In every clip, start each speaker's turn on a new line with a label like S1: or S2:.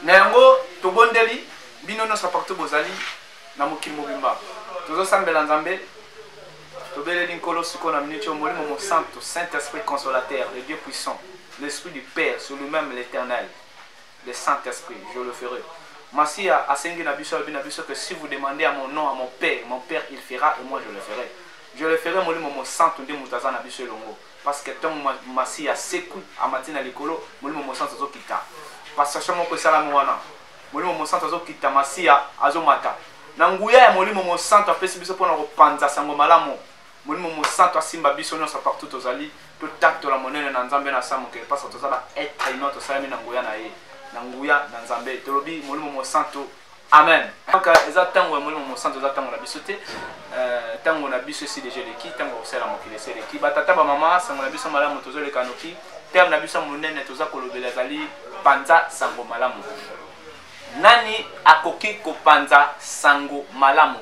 S1: na yango tobondeli bino nyonso partout bozali na mokili mobimba tozosambela nzambe tobeleli nkolo sikoyo na miniti oyo molimo mosantu saint esprit consolateur le dieu puissant l'esprit du père sur lui-même l'éternel le Saint Esprit je le ferai Masiya asengi na biso alobi na biso que si vous demandez à mon nom à mon père mon père il fera et moi je le ferai je le ferai molimo mosantu nde moto aza na biso elongo parce que ntango Masiya asekwi amati na likolo molimo mosantu azokita passation moko esalami wana molimo mosantu azokita Masiya azomata na nguya ya molimo mosantu apesi biso mpo na kopanza sango malamu Molimo Mosanto asimba biso nyonso partout tozali, totatola monene na Nzambe na sa mokili pasa toza ba être humain tosalami na nguya na ye, na nguya na Nzambe. Tolobi Molimo Mosanto, amen. Donc euh, eza ntango ya Molimo Mosanto, eza ntango na biso te. Euh, ntango na biso esi deja eleki, ntango ya kosala mokili esi eleki. Batata bamama, sango na biso malamu tozoleka noki. Terme na biso monene toza kolobela ezali panza sango malamu. Nani akoki kopanza sango malamu?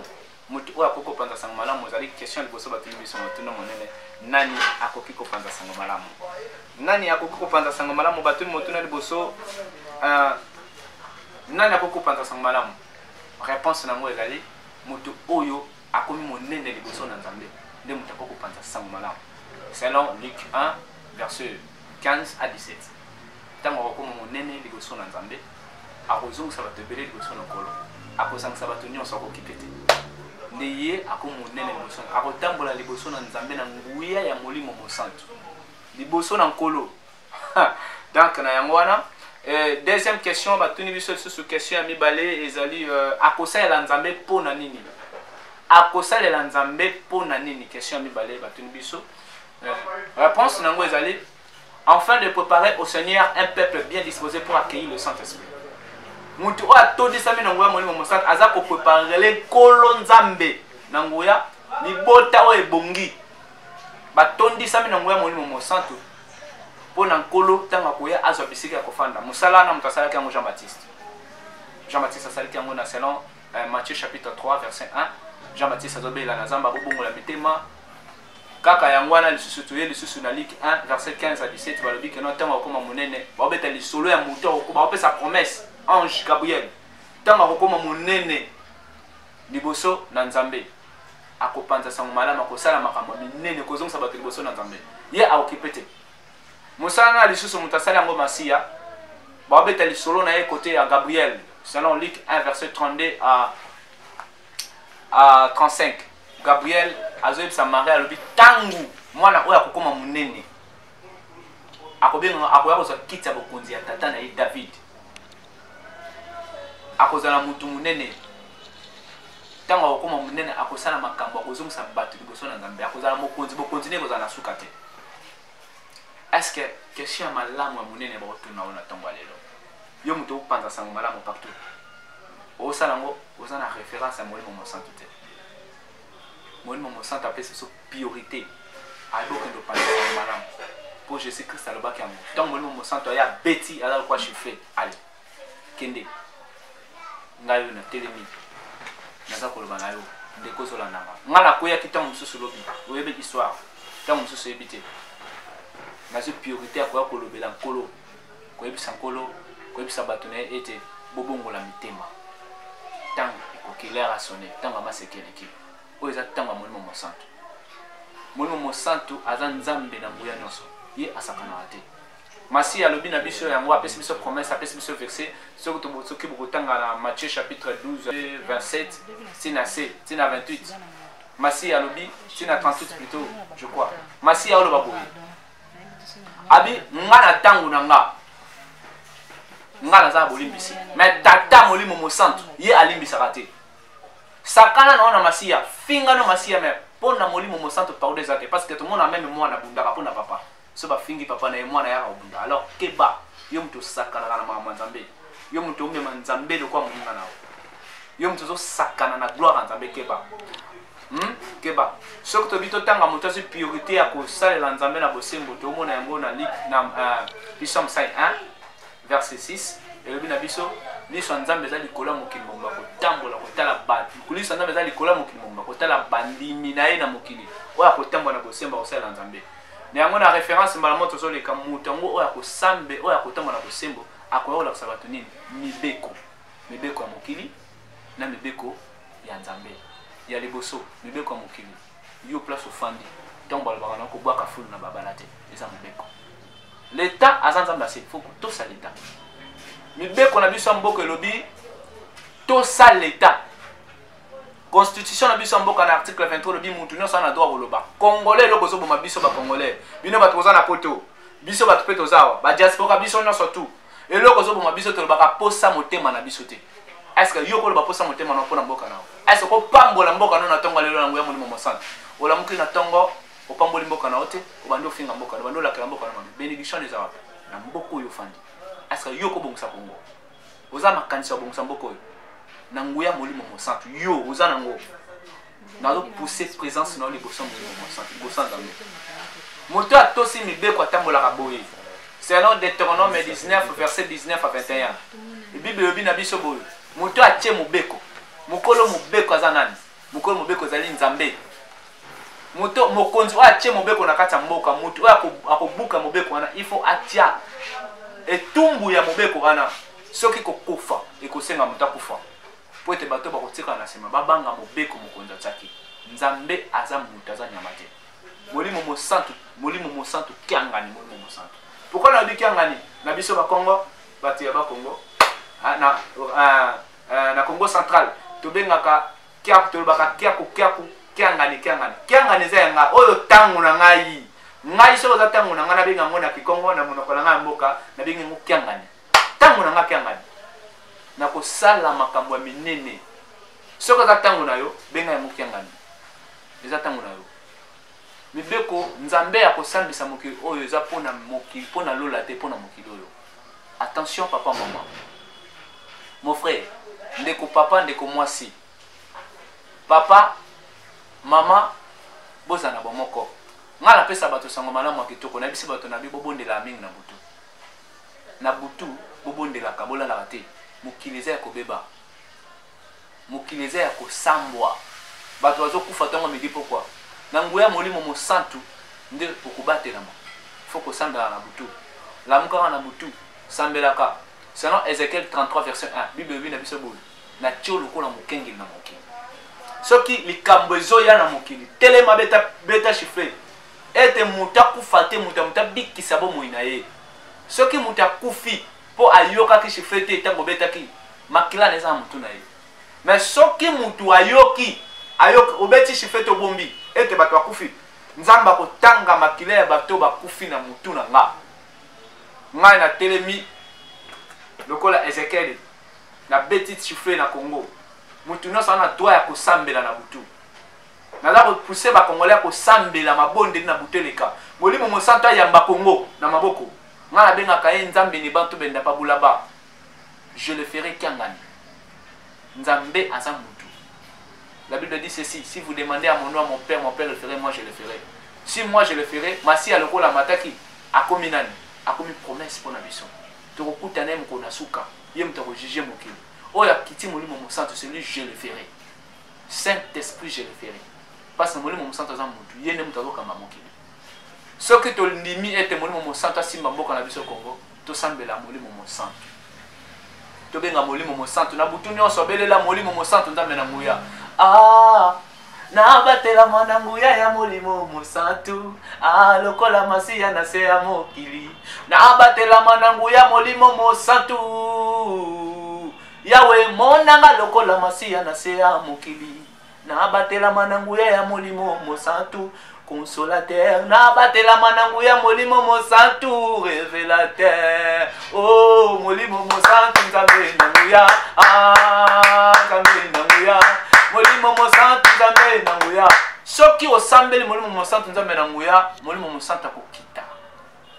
S1: Moto oyo akoki kopanza sango malamu ezali question liboso batuni biso motuna monene, nani akoki kopanza sango malamu? Nani akoki kopanza sango malamu? Batuni motuna liboso, uh, nani akoki kopanza sango malamu? Reponse na yango ezali moto oyo akomi monene liboso na Nzambe nde moto akoki kopanza sango malamu, selon Luc 1 verset 15 à 17 ntango akokoma monene liboso na Nzambe akozongisa bato ebele liboso na nkolo akozangisa bato nyonso akokipe te nde ye akomonene liboso akotambola liboso na nzambe na nguya ya molimo mosantu liboso na nkolo donc na yango wana eh, deuxième question batuni biso lisusu question ya mibale ezali euh, akosalela nzambe mpo na nini akosalela nzambe mpo na nini question ya mibale batuni biso euh, réponse na yango ezali Enfin de preparer au Seigneur un peuple bien disposé pour accueillir le Saint-Esprit. Mutu oyo atondisami na nguya molimo mosantu aza kopreparele nkolo nzambe na nguya libota oyo ebongi batondisami na nguya molimo mosantu mpo na nkolo ntango akoya azwa bisika ya kofanda mosala wana moto asalaki yango jean baptiste jean baptiste asalaki yango na selon euh, matthieu chapitre 3 verset 1 jean baptiste azobela na zamba bobongola mitema Kaka yango wana lisusu toye lisusu na Luc 1 verset 15 à 17 balobi que non ntango akokoma monene baobeta lisolo ya moto akokoba baopesa promesse ange Gabriel ntango akokoma monene liboso na Nzambe akopanza sango malamu akosala makambo minene kozongisa bato liboso na Nzambe ye aokipe te mosala na lisusu moto asali yango masiya baobeta lisolo na ye kote ya Gabriel selon Luc 1 verset 32 à uh, 35 gabriel azoyebisa marie alobi ntango mwana oyo akokoma monene akobengama akoya kozwa kiti ya bokonzi ya tata na ye david akozala motu monene ntango akokoma monene akosala makambo akozongisa bato liboso na nzambe akozala mokonzi bokonzi nde ekozala na suka te eske question ya malamu ya monene bakotuna oyo na ntongo ya lelo yo moto opanza sango malamu partout osala yango oza na référence ya molimo mosantu te molimo mosantu apesi biso priorité ayebi okende opanza sango malamu mpo jésus christ alobaki yango ntango molimo mosantu aye abeti aza lokwa chiffre ale kende ngai oyo natelemi naza koloba na yo ndeko ozolanda nga nga nakweyaki ntango mosusu lobi oyebi histoire ntango mosusu oyebi te nazwi priorité ya koya kolobela nkolo koyebisa nkolo koyebisa bato na ye ete bobongola mitema ntango ekoki lere asone ntango ya maseke eleki oyo eza ntango ya molimo mosantu molimo mosantu aza nzambe na nguya nyonso ye asakanaka te Masiya alobi na biso yango, apesi biso promesse, apesi biso verse. Soki tobosoki bokotanga na Matthieu chapitre 12 27 tina se tina 28. Masiya alobi tina 38 plutôt, je crois. Masiya oloba boye. Abi nga na tango na nga. Nga naza bolimbisi. Mais tata molimo mosantu ye alimbisaka te. Sakana na ona Masiya, finga no Masiya mais pona molimo mosantu pardon ezate parce que tout le monde a même moi na bundaka pona papa. so bafingi papa na ye mwana yaka kobunda alors keba yo moto osakanaka na makambo ya nzambe yo moto omema nzambe lokola moninga na yo yo moto ozosakana na gloire ya nzambe keba hmm? keba soki tobi totanga moto azwi priorité ya kosalela nzambe na bosembo tomona yango na lik na uh, pisome 5 1 verset 6 elobi na biso liso ya nzambe eza likolo ya mokili mobimba kotambola kotala bato liso ya nzambe eza likolo ya mokili mobimba kotala bandimi na ye na mokili oyo akotambola na bosembo akosalela nzambe na yango na référence mbala moko tozoleka moto yango oyo akosambe oyo akotamba na bosembo akoya kolakisa bato nini mibeko mibeko ya mokili na mibeko ya nzambe ya liboso mibeko ya mokili yo place ofandi ntango balobaka na kobwaka fulu na babala te eza mibeko leta aza nzambe ase fo kotosa leta mibeko na biso ya mboka elobi tosa leta constitution na biso ya mboka na article 23 olobi mutu nyonso ana droit koloba congolais eloko ezoboma biso bacongolais bino bato boza na poto biso bato mpe toza awa badiaspora biso nyonso tu eloko ezoboma biso tolobaka posa motema na biso te estce yo koloba posa motema na mpo na mboka na yo estce kopambola mboka no na ntongo lelo na nguya molimo mosantu olamuki na ntongo opamboli mboka na yo te obandi ofinga mboka na obandi olakela mboka na mabe benediction ezalaka na mboka oyo ofandi estce yo kobongisa kongo oza makanisi ya bongisa mboka oyo na nguya molimo mosantu yo oza nango nazopousse présence na yo liboso ya molimo mosantu liboso ya nzambe moto oyo atosi mibeko atambolaka boye selon deuteronome 19 verset 19 a 21 bible elobi na biso boye moto oyo atie mobeko mokolo mobeko aza nani Mokomi mobeko ezali Nzambe. Moto mokonzi oyo atie mobeko na kati ya mboka, moto oyo akobuka mobeko wana, il faut atia etumbu ya mobeko wana. Soki kokufa ekosenga moto akufa mpo ete bato bakotikala na nsima babanga mobeko mokonzi atiaki. Nzambe aza moto, aza nyama te. Molimo mosantu, molimo mosantu, kiangani, molimo mosantu. Pourquoi nalobi kiangani na biso bakongo, bato ya bakongo ah, na, uh, Euh, na Congo central tobengaka kiaku tolobaka kiaku kiaku kiangani kiangani kiangani eza ya ngai oyo ntango na ngai ngai soki oza ntango na ngai nabenga yango na kikongo na monoko na ngai ya mboka nabengi yango kiangani ntango na ngai kiangani nakosala makambo ya minene soki oza ntango na yo benga yango kiangani eza ntango na yo Mibeko nzambe ya kosambisa mokili oyo eza mpo na mokili mpo na lola te mpo na mokili oyo. Attention papa maman. Mon frère, ndeko papa ndeko mwasi. Papa mama bozala na bomoko. Nga napesa bato sango malamu ya kitoko nayebisi bato na bi bobondelaka mingi na butu. Na butu bobondelaka bolalaka te. Mokili eza ya kobeba. Mokili eza ya kosambwa. Bato bazokufa ntongo midi pokwa. Na nguya ya Molimo Mosantu nde okobatelama. Faut kosambelaka na butu. Lamukaka na butu. Sambelaka. Selon Ezekiel 33 verset 1, Bible elobi na biso boye, natie yo lokola mokengeli na mokili. Soki likambo ezoya na mokili, telema beta, beta chiffre ete moto akufa te, moto ya moto abikisa bomoi na ye. Soki moto akufi, mpo ayokaki sifflet te ntango obetaki makila na eza na motu na ye me soki motu ayoki ayoki obeti sifflet te obombi ete bato bakufi nzambe akotanga makila ya bato bakufi na motu na nga ngai natelemi lokola ezekiele nabeti sifflet na congo motu nyonso ana droit ya kosambela na butu naza kopuse bakongole ya kosambela mabondeli na butu eleka molimo mosantu ayamba kongo na maboko Nga na benga kaye nzambe ne bantu benda pa bula ba je le ferai kiangani nzambe aza mutu la bible dit ceci si vous demandez à mon nom à mon père mon père le ferai moi je le ferai si moi je le ferai masiya lokola amataki akomi nani akomi promesse mpo na biso tokokuta na ye mokolo na suka ye moto akojuge mokili oyo akiti molimo mosantu celui je le ferai saint esprit je le ferai mpasi na molimo mosantu aza mutu ye nde moto azokamba mokili soki tondimi ete molimo mosantu asimba mboka na biso congo tosambela molimo mosantu tobenga molimo mosantu na butu nyonso abelela molimo mosantu nzambe na nguya ah, nabatelama na nguya ya molimo mosantu ah, lokola masiya na se ya mokili nabatelama na nguya molimo mosantu yawe monanga lokola masiya na se ya mokili nabatelama na nguya ya molimo mosantu consolateur nabatelama na nguya molimo mosantu revelateur o oh, molimo mosantu nzambe na nguya ah, nzambe na nguya molimo mosantu nzambe na nguya soki osambeli molimo mosantu nzambe na nguya molimo mosantu akokita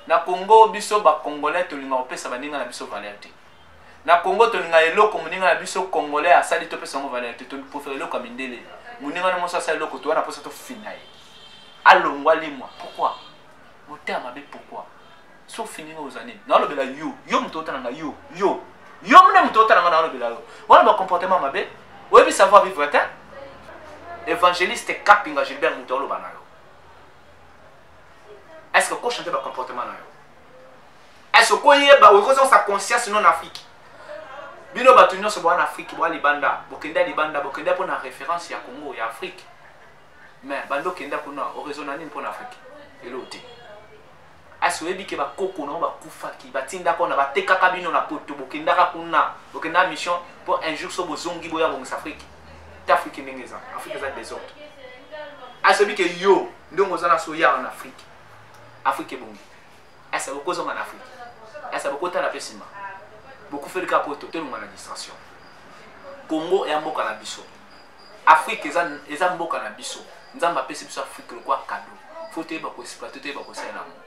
S1: na kongo biso bakongolais tolingaka kopesa baninga na biso valeur te Na Congo tolinga eloko muninga na biso congolais asali to pesa ngo valeur te toli profere eloko ya mindele. Muninga na moso asali eloko to wana posa to fina ye. Alongwa limwa. Pourquoi? Motema mabe pourquoi? So fini ngo ozani. Na lobela yo, yo mutu otana nga yo, yo. Yo mune mutu otana nga na lobela yo. Wana ba comportement mabe. Oyebi savoir vivre te. Evangeliste Kapinga Gilbert mutu oloba na yo. Est-ce que ko changer ba comportement na yo? est ce koyeba oyo kozongisa conscience non afrique bino bato nyonso boa na afrique boa libanda bokende ya libanda bokende mpo na référence ya congo ya afrique mais banda okenda kuna oraisona nini mpo na afrique elo te asi oyebi ke bakoko nango bakufaki batindaka ona batekaka bino na poto bokendaka kuna bokendaka mission mpo un jour so bozongi boya bongisa afrique te afrique ndenge eza afrique eza desordre asi oyebi ke yo ndenge oza na soya en afrique afrique ebongi asa bokozonga na afrika asa bokotala mpe nsima bokufeli kaka poto tolonga na distraction congo eya mboka na biso afrika eza, eza mboka na biso nzambe apesi biso afrika lokwa kado fo toyeba koexploite toyeba kosala yango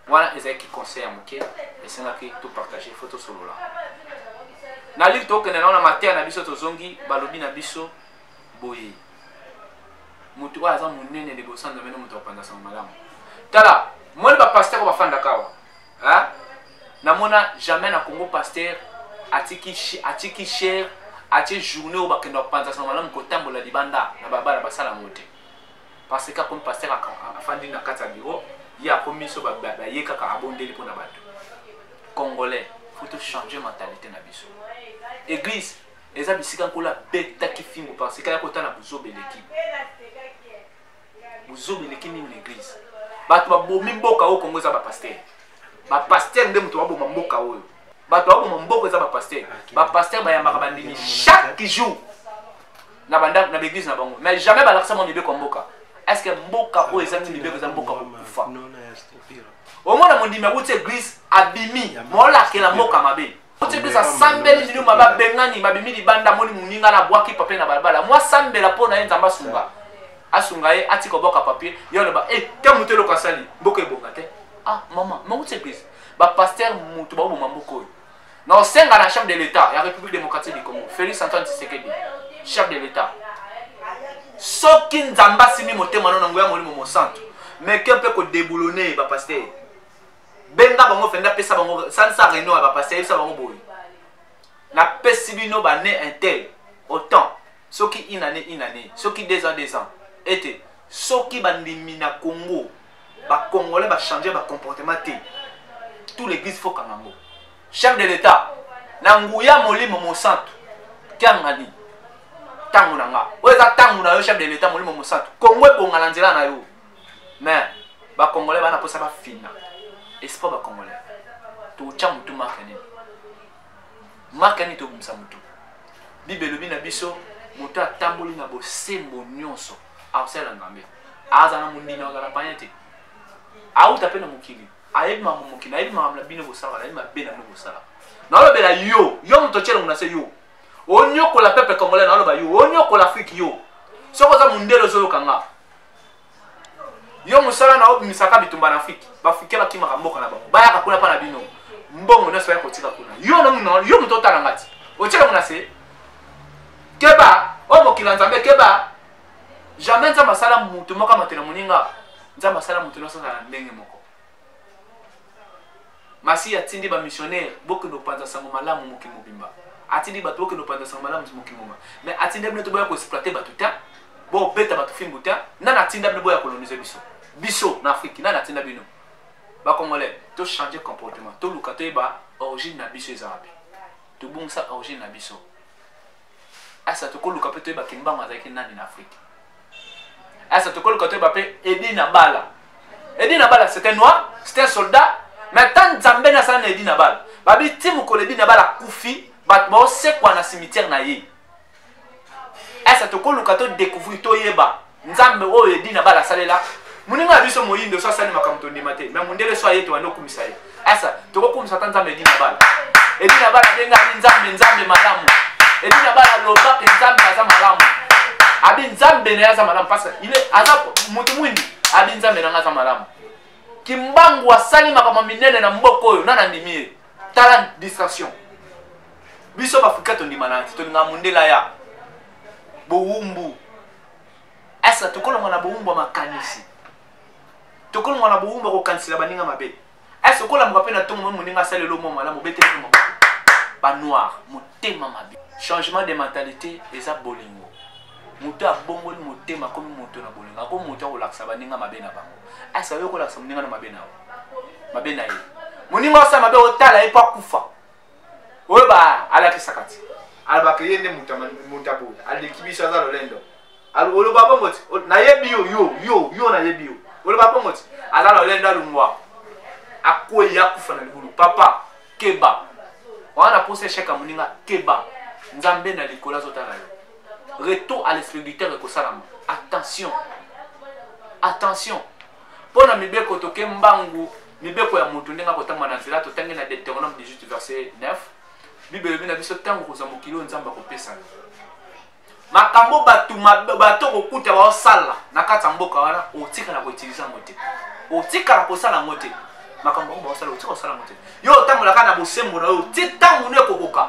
S1: wana ezalaki conseil ya moke esengaki topartage fo tosolola na lili tokende nao na mateya na biso tozongi balobi na biso boye moto oyo aza monene liboso ya nzambe nde moto akopanza sango malamu tala moni bapasteur oyo bafandaka awa namona jamais na congo pasteur atiki, atiki cher atie journée oyo bakenda kopanza sango malamu kotambola libanda na babala basala yango te parce que akomi pasteur afandi na kati ya biro ye akomi biso baye kaka abondeli mpo na bato congolais faut tochanger mentalité na biso église eza bisika nkolo abetaki fimbo parce kaya kota na buzoba eleki buzoba eleki nini na eglise bato babomi mboka oyo kongo eza bapaster bapaster nde moto baboma mboka oyo bato baboma mboka eza bapaster bapaster bayambaka bandimi chaque jour na bandako na baeglise na bango mais jamais balakisa mwa mibeko ya mboka est ce que mboka oyo ezangi mibeko eza mboka kokufa omona mondimi awuti eglise abimi molakela mboka mabe otie biso asambeli lino mabe abengani babimi libanda moni moninga na bwaki papier na balabala mwa sambela mpo na ye nzambe asunga asunga ye atika obwaka papier ye aloba e eh, te moto eloko asali mboka ebonga te ah mama mauti eglise bapaster moto baoboma mboka oyo na osenga na chef de l'état ya république démocratique du congo félix antoine tisekedi chef de l'état soki nzambe asimi motema no na nguya molimo mosantu meke mpe kodeboulone bapaster benga bango fendi apesa bango salisa réunion ya bapasi ayebisa bango boye napesi bino bane intel autant soki une année une année soki deux ans deux ans ete soki bandimi na congo bacongolais bachange bacomportement te tout l'église fokanga yango chef de l'état na nguya molimo mosantu tiangani ntango na nga oyo eza ntango na yo chef de l'état molimo mosantu congo ebonga na nzela na yo mais ba congolais bana posa ba fina espoir ba congolais to cha mutu marque nini marque nini to bumsa mutu bible elobi na biso moto atamboli na bosembo nyonso akosala nzambe aza na mondimi azala panya te auta mpe na mokili ayebi makambo mokili ayebi makambo na bino bosalaka ayebi mabe na bino bosalaka naolobela yo yo moto otyelongo na se yo onyokola pepe congolais naoloba yo onyokola afrike yo soki oza mondele ozoyoka nga yo mosala na obimisaka bitumba na afrike baafrikain bakimaka mboka na bango bayaka kuna mpa na bino mbongo nyonso baya kotika kuna yo moto otala ngati otika mona se keba oyo mokili ya nzambe keba jamais nzambe asala moto moko amatela moninga nzambe asala moto nyonso azala na ndenge moko masiya atindi bamissionnaire bokende kopanza sango malamu mokili mobimba atindi bato bokende kopanza sango malamu mokili mobimba mais atindi bino te boya koexploite bato te bobeta bato fimbu te nani atinda bino boya kolonise biso biso na afrike nani atinda bino bacongolais tochange comportement toluka toyeba origine na biso eza wapi tobungisa origine na biso asa tokoluka mpe toyeba kimbangu azalaki nani na afrike asa tokoluka toyeba mpe edi na bala edi na bala c'était noir c'était soldat mais ata nzambe nasala na edi na bala babi ti mokolo edi na bala akufi bato baosekwa na cimetière na ye asa tokoluka todecouvrir toyeba nzambe oyo edi na bala asalela moninga na biso moyindo so asali makambo tondima te me mondele so aye tobanda okumisa ye asa tokokumisa ata nzambe edi na bala edi na bala ndenge abi nzambe nzambe malamu edi na bala loba mpe nzambe aza malamu abi nzambe na ye aza malamu parce ile aza moto mwindi abi nzambe na ngai aza malamu kimbangu asali makambo minene na mboka oyo nana ndimi ye tala distraction biso baafrika tondima na te tolingaka mondela ya bowumbu eske tokolongwa na bowumbu ya makanisi tokolongwa na bowumbu ya kokanisela baninga mabe eske okolamuka mpe na ntongo mwe moninga asala elo mwa malamu obete ntongo banoir motema mabe changement de mentalité eza bolingo moto abongoli motema akomi moto na bolingo akomi moto akolakisa baninga mabe na bango eske ayoki kolakisa moninga na mabe na yo mabe na ye moninga osala mabe otala ye mpo akufa oyo ba alakisaka ti alobaka ye nde moto ya boye aleki biso aza lolendo oloba bongo ti nayebi yo yo yo yo nayebi yo oloba bongo ti aza lolendo alungwa akwei akufa na libulu papa keba wana posa echec ya moninga keba nzambe na likolo azotala yo retour à l'esprit du terre ekosalama attention attention mpo na mibeko toke mbangu mibeko ya moto ndenge akotangwa na nzela totangi na deuteronome 18 verset 9 bible elobi na biso ntango kozwa mokili oyo nzambe akopesa yo makambo bato bato kokuta baosala na kati ya mboka wana otikala koutilize yango te otikala kosala yango te makambo yango baosala otika kosala yango te yo otambolaka na bosembo na yo ti ntango nde ekokoka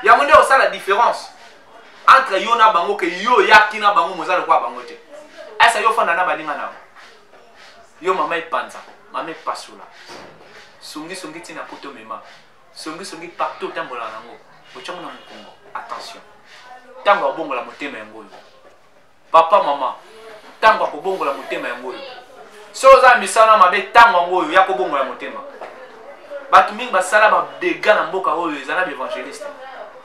S1: yango nde osala différence entre yo na bango ke yo oyaki na bango moza lokola bango te esa yo ofanda na baninga na yo mama epanza mama epasola songisongi ntina poto mema songisongi partout otambola nango otyango na mokongo attention ntango abongola motema yango oyo papa mama ntango ya kobongola motema yango oyo so oza na misala mabe ntango yango oyo ya kobongola motema bato mingi basala badega na mboka oyo eza na baevangeliste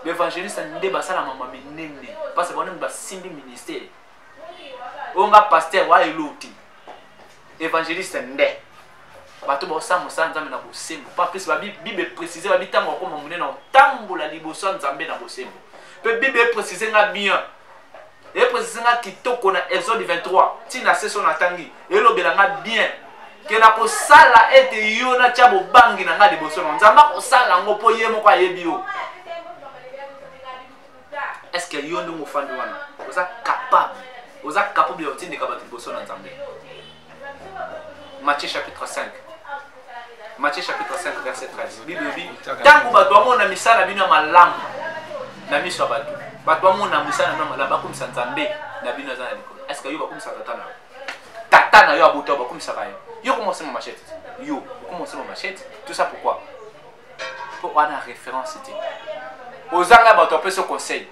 S1: baevangeliste nde basala mama minene mpasi bango nini basimbi ministere oyo nga paster wa eloti evangeliste nde bato baosala mosala nzambe na bosembo pa plus babible eprécise babi ntango akoma monene otambola liboso ya nzambe na bosembo mpe bible eprécise nga bien epresise nga kitoko na exode 23 ntina seso natangi elobela nga bien ke nakosala ete yo natya bobangi na ngai liboso na nzambe akosala yango mpo ye moko ayebi yo estce yo ndenge ofandi wana oza capable oza capable ya kotindika bato liboso na nzambe Matthieu chapitre 5. Matthieu chapitre 5 verset 13. Bible dit tango bato bamona misala bino malamu na miso ya bato. Bato bamona misala na malamu bakumisa Nzambe na bino aza na likolo. Est-ce que yo bakumisa tata na yo? Tata na yo abuta bakumisa ba yo. Yo comment c'est ma machette? Yo comment c'est ma machette? Tout ça pourquoi? Pour avoir référence c'était. Ozanga bato apesa conseil.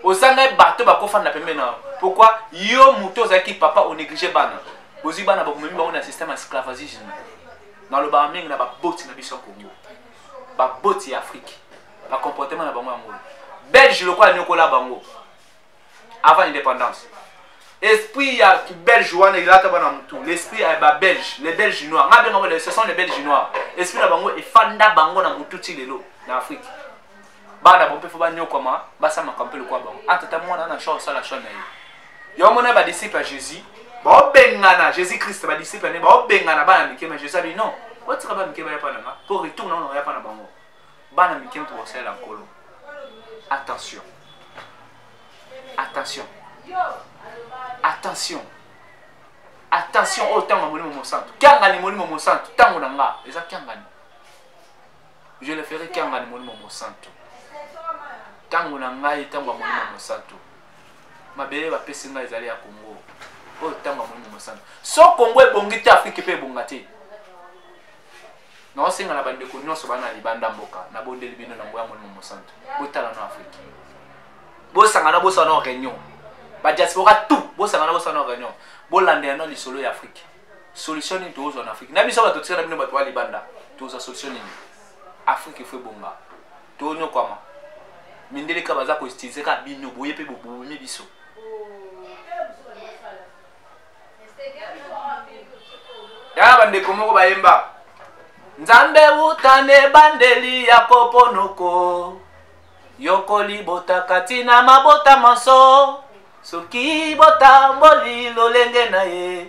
S1: ozangai bato bakofanda pembe na pourkui yo moto ozalaki papa onéglige bana bozwi bana bakomemi bango na système ya sclavagisme nalobaka mingi na baboti na biso ya congo baboti ya afrike bacomportement na bango yango belge lokola anyokola bango avant indépendance esprit ya belge wana elata bana motu l'esprit ya babelge les belge noir nga benga ce sont les belge noir esprit na bango efanda bango na motu ti lelo na afrike bana bo mpe fo banyokwama basala makambo mpe lokola bango ata ta mwana ana shor asala shor na ye yango mona badisiple ya jésus baobengana jésus christ badisiple ne baobengana bana mike ma jésus abi non otika bana mike baya mpa na nga mpo retour na ona ya mpa na bango bana mike mpo basalela nkolo attention attention attention attention oyo oh, ntango ya molimo mosantu kiangani molimo mosantu ntango na nga eza kiangani je le ferai kiangani molimo mosantu ntango na ngai ntango ya molimo mosantu mabele bapesi ngai ezali ya kongo oyo ntango ya molimo mosantu so kongo ebongi te afrike mpe ebonga te naosenga na bandeko nyonso bana libanda mboka nabondeli bino nango ya molimo mosantu botala na afrike bosangana bosana réunion badiaspora tout bosangana bosana réunion bolanda yano lisolo ya afrike solution nini tokozwa na afrique na biso bato tika na bino bato ya libanda tozwa solution nini afrique efo ebonga tonyokwama mindele kaka baza koutilize kaka bino boye mpe bobomi biso yaya bandeko moko bayemba nzambe utana ebandeli ya koponoko yokoli botaka ntina mabota manso soki botamboli lolenge na ye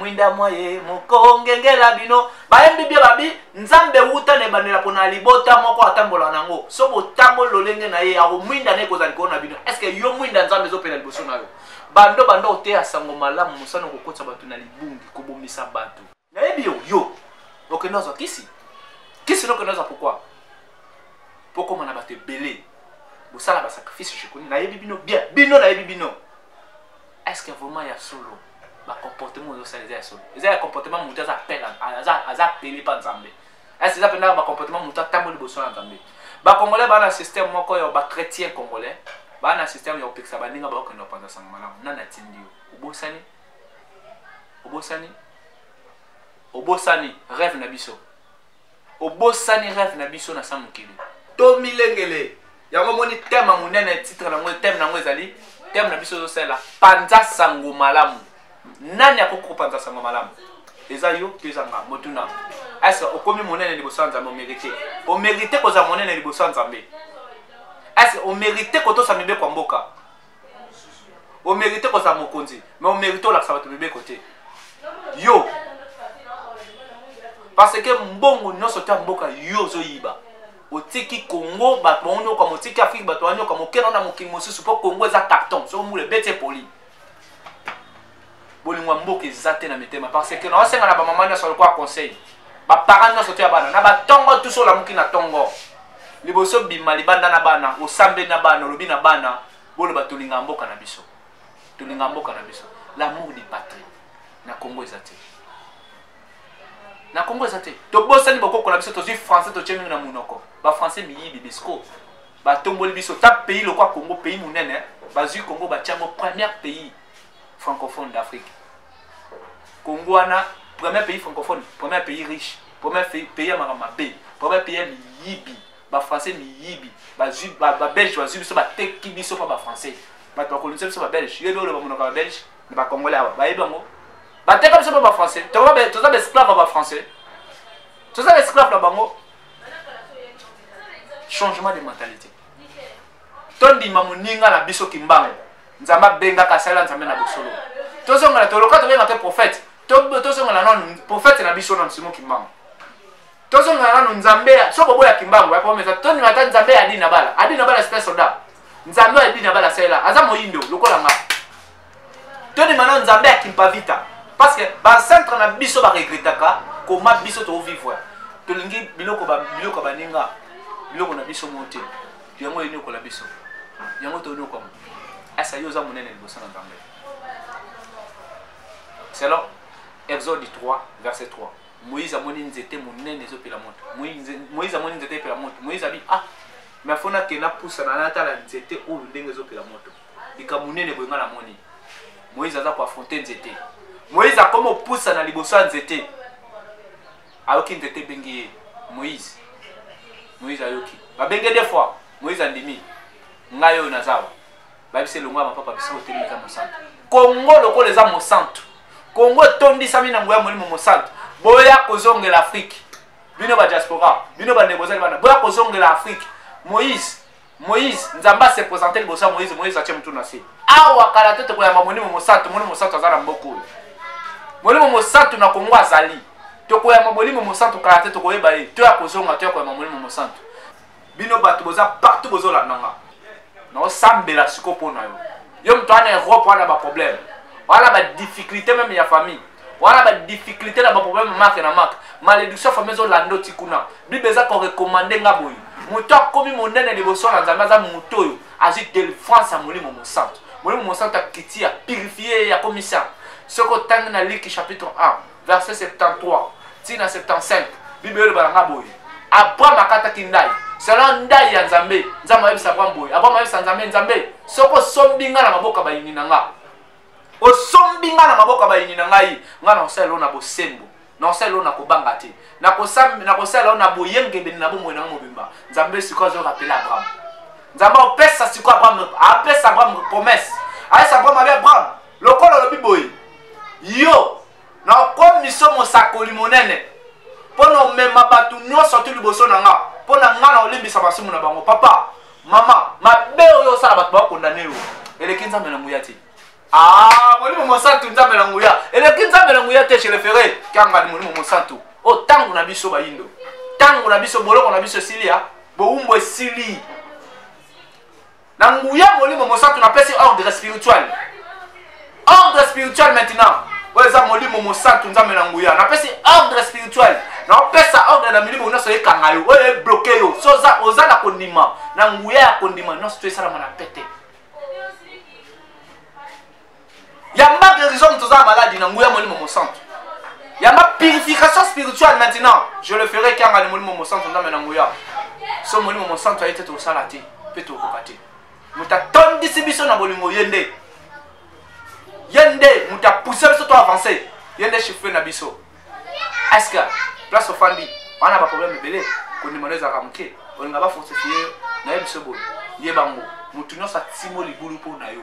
S1: mwinda mwa ye mokongengela bino bayembi bie babi nzambe wuta na ebandela mpo na libota moko atambola na yango so botamboli lolenge na ye akomwinda na ekozala likolo na bino estce yo mwinda nzambe ezopela liboso na yo bando bando oteya sango malamu mosana kokotisa bato na libungi kobomisa bato nayebi yo yo okende ozwa kisi kisi nokende ozwa pourkoi mpo koma na bato ebele bosala basacrifice jekoni nayebi bino bien bino nayebi bino est ce que vraiment ya solo bacomportement oyo osala eza ya solo eza ya comportement moto aza apele aza apele mpa nzambe ese eza mpenza bacomportement moto atambo liboso na nzambe bacongolais baa na système moko ya bachrétien congolais baa na système ya kopekisa baninga bakokende bapanza sango malamu nani atindi yo obosani obosani obosani rêve na biso obosani rêve na biso na sa mokili tomilengele yango omoni teme ya monene titre nango teme nango ezali teme na biso ezosalela panza sango malamu nani akoki kopanza sango malamu eza yo to eza nga motuna ese okomi monene liboso ya nzambe omerite omerite kozala monene liboso ya nzambe ese omerite kotosa mibeko ya mboka omerite kozala mokonzi me omerite olakisa bato mibeko te yo parce que mbongo nyonso ta mboka yo ozoyiba otiki congo bato bango nyoka motiki afrike bato banyoka mokena na mokili mosusu mpo congo eza carton soki mbula ebeti epoli bolingo ya mboka eza te na mitema parce que naosenga na bamama nyonso lokola conseil baparent nyonso te ya bana na batongo tuso olamuki na tongo liboso bima libanda na bana osambeli na bana olobi na bana boloba tolinga mboka na biso tolinga mboka na biso l'amour du patrie na congo eza te na congo eza te tobosani bokoko na biso tozwi français totye mingi na monoko bafrançais miyibi bisco batomboli biso ta pays lokwa congo pays monene bazwi congo batyango première pays francophone d'afrique congo wana premier pays francophone premier pays riche premier pays ya makambo mabe premier pays ya miyibi bafrançais miyibi babelge bazwi biso bateki biso mpa bafrançais bato bakolonisa biso babelge yo ebi oloba monoko ya babelge na bacongolais awa bayebi yango bateka biso mpa bafrançais toza baesclave ya bafrançais toza baesclave na bango changement de mentalité tondima moninga na biso kimbangu nzambe abengaka asalela nzambe na bosolo tozongela toloka tobenga te prophète tozongela nanu prophète na biso na msimo kimbangu tozongela nanu nzambe so bobo ya kimbangu yakomeza tondima ata nzambe ya adina bala adina bala sita soda nzambe ya adina bala asalela aza moyindo lokola ngai tondima na nzambe ya kimpavita parce que bacentre na biso baregretaka koma biso tovivre tolingi biloko biloko baninga biloko na biso mo te yango eniokola biso yango toyokama asa yo oza monene liboso na nzambe selon exode 3 verset 3 moïse amoni nzete monene ezopela moto moïse amoni nzete epela moto moïse abi ah me afona ke napusana natala nzete oyo ndenge ezopela moto likambo monene boye ngai namoni moïse aza koafronte nzete moïse akoma opusa na liboso ya nzete ayoki nzete ebengi ye moïse moïse ayoki babenge de fois moïse andimi ngai oyo nazawa bayebisi elongo ya mapapa bisika otemi eza mosantu kongo lokola eza mosantu kongo etondisami na ngoya molimo mosantu boya kozongela afrike bino badiaspora bino bandeko ozali bana boya kozongela afrike moïse moïse nzambe ase présente liboso ya moïse moïse atie motu na se awa kala te tokoyamba molimo mosantu molimo mosantu aza na mboka oyo molimo mosantu na kongo azali tokoyamba molimo mosantu kala te tokoyeba ye to ya kozonga to ya koyamba molimo mosantu bino bato boza partout bozolanda nga naosambela siko mpo na yo yo moto wana europe wana baproblème wana badifficulté meme ya famille wana ba difficulté na ba problème marque na marque malédiction famille ezo lando ti kuna bible eza ko recommander nga boye moto akomi monene liboso na nzambe aza moto oyo azwi delivrance ya molimo mosantu molimo mosantu akiti ya purifie ya komisa soki otangi na liki chapitre 1 verset 73 ti na 75 bible eloba na nga boye abraham akataki ndai selon ndai ya nzambe nzambe ayebisa abraham boye abraham ayebisa nzambe nzambe soki osombi nga na maboko ya bayini na nga osombi ngai na maboko ya bayini na ngai ngai nakosalela yo na bosembo nakosalela yo na kobanga te nakosalela yo na boyengebene na bomoi na ngai mobimba nzambe sikoyo azo rapele abraham nzambe apesa sikoyo abraham apesa abraham promese ayesa abraham abi abraham lokola olobi boye yo na okomiso mosakoli monene mpo na omema bato nyonso tu liboso na nga mpo na nga na olimbisa masumu na bango papa mama mabe oyo osala bato bakondane yo eleki nzambe na nguya te ah, molimo mosantu nzambe na nguya eleki nzambe na nguya te chelefere kiangani molimo mosantu o oh, ntango na biso bayindo ntango na biso boloko na biso esili ya bowumbu esili na nguya molimo mosantu napesi ordre spirituel ordre spirituel maintenant oyo eza molimo mosantu nzambe na nguya napesi ordre spirituel naopesa ordre na milimo nyonso ekanga yo oyo ebloke yo so oza na kondima na nguya ya kondima nyonso to esalama na pete yamba guérison moto oza na maladi na nguya molimo mosantu yamba purification spirituelle maintenant je le ferai kianga ni molimo mosantu nzambe na nguya so molimo mosantu aye te tokosala te mpe tokokoka te moto atondisi biso na bolingo ye nde ye nde moto apousse biso to avance ye nde chiffre na biso eske place ofandi wana baproblème ebele kondima no ezalaka moke olinga bafortifie yo naye biso boye ye bango moto nyonso atimo libulu mpo na yo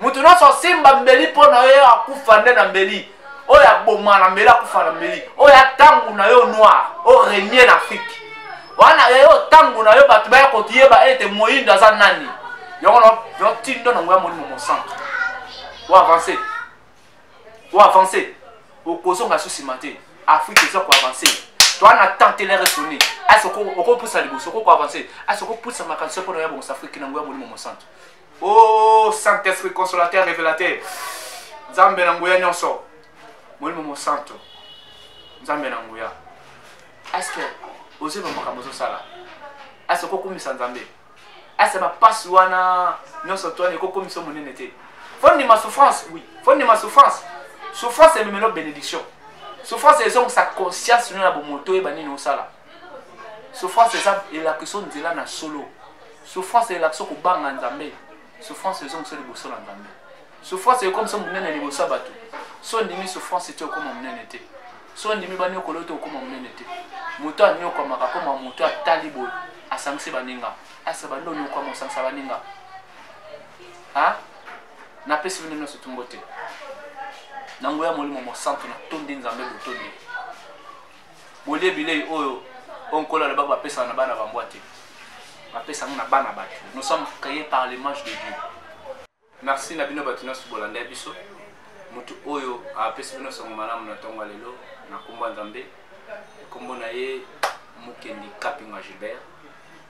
S1: moto nyonso asimba mbeli mpo na yo akufa nde na mbeli oyo aboma na mbeli akufa na mbeli oyo atango na yo noir orenie na afrike wana eyo ntango na yo bato baya kotiyeba ete moyindo aza nani yango notindo nango ya molimo mosanto oavance oavance okozonga so nsima te afrike eza koavance toi na tente le resonne asi okopusa liboso okokoavance asi okopusa makanisi mpo na ya bongosa afrike nango ya molimo mosanto Oh Saint-Esprit consolateur révélateur. Nzambe na nguya nyonso. Molimo mosanto. Nzambe na nguya. Est-ce que ozo ba makambo ozo sala? Est-ce que okokumisa Nzambe? Est-ce que ba passe wana nyonso to ne kokumisa monene te? Faut ni ma souffrance, oui. Faut ni ma souffrance. Souffrance est même bénédiction. Souffrance est donc sa conscience na bomoto et banini osala. Souffrance est la question de la solo. Souffrance elakisa kobanga Nzambe. Souffrance ezongisa liboso na Nzambe. Souffrance ekomisa monene liboso ya bato. So ondimi souffrance te okoma monene te. So ondimi banyokolo te okoma monene te. Moto anyokwamaka akoma moto atali boye asangisi baninga. Asa bando onyokwama osangisa baninga. Ha? Napesi bino nyonso tumbo te. Na nguya molimo mosantu natondi Nzambe botondi. bolie bilei oyo oyo nkolo alobaki bapesaka na bana bambwa te bapesa yango na bana bato nous sommes créés par l'image de dieu merci na bino bato nyonso bolandai biso moto oyo apesi bino sango malamu na ntongo ya lelo na nkombo ya nzambe nkombo na ye mokendi kapinga gilbert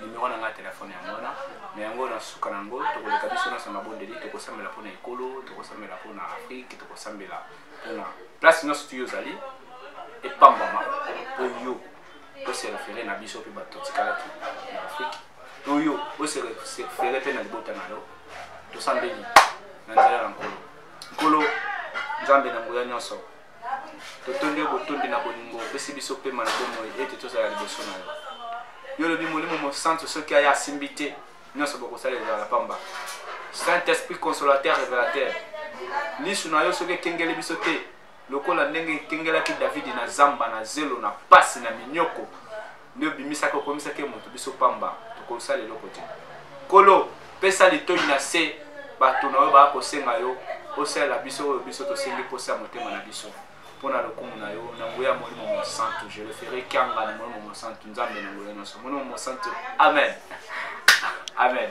S1: nimero na ngai ya telefone yango wana na yango na suka na yango tokoleka biso nyonso mabondeli tokosambela mpona ekolo tokosambela mpona afrike tokosambela mpona place nyonso tuyo ozali epambama mpo yo oserefere na biso mpe bato totikalaki na afrike to yo oserefere mpe na libota na yo tosambeli na nzela na nkolo nkolo nzambe na nguya nyonso totondi yo botondi na bolingo opesi biso pema na bomoi ete tozala liboso na yo yo olobi molimo mosantu soki aya asimbi te nyonso bokosala ezala pamba saint esprit consolateur revelateur lisu na yo soki ekengeli biso te lokola ndenge ekengelaki davidi na zamba na zelo na pasi na minyoko nde obimisaki okomisaki ye moto biso pamba tokosala eloko te kolo pesa litoi na se bato na oyo baya kosenga yo osalela biso oyo biso tosengi mposa ya motema na biso mpo na lokumu na yo na nguya ya molimo mosantu je le ferai kianga na molimo mosantu nzambe na nguya nyonso molimo mosantu amen amen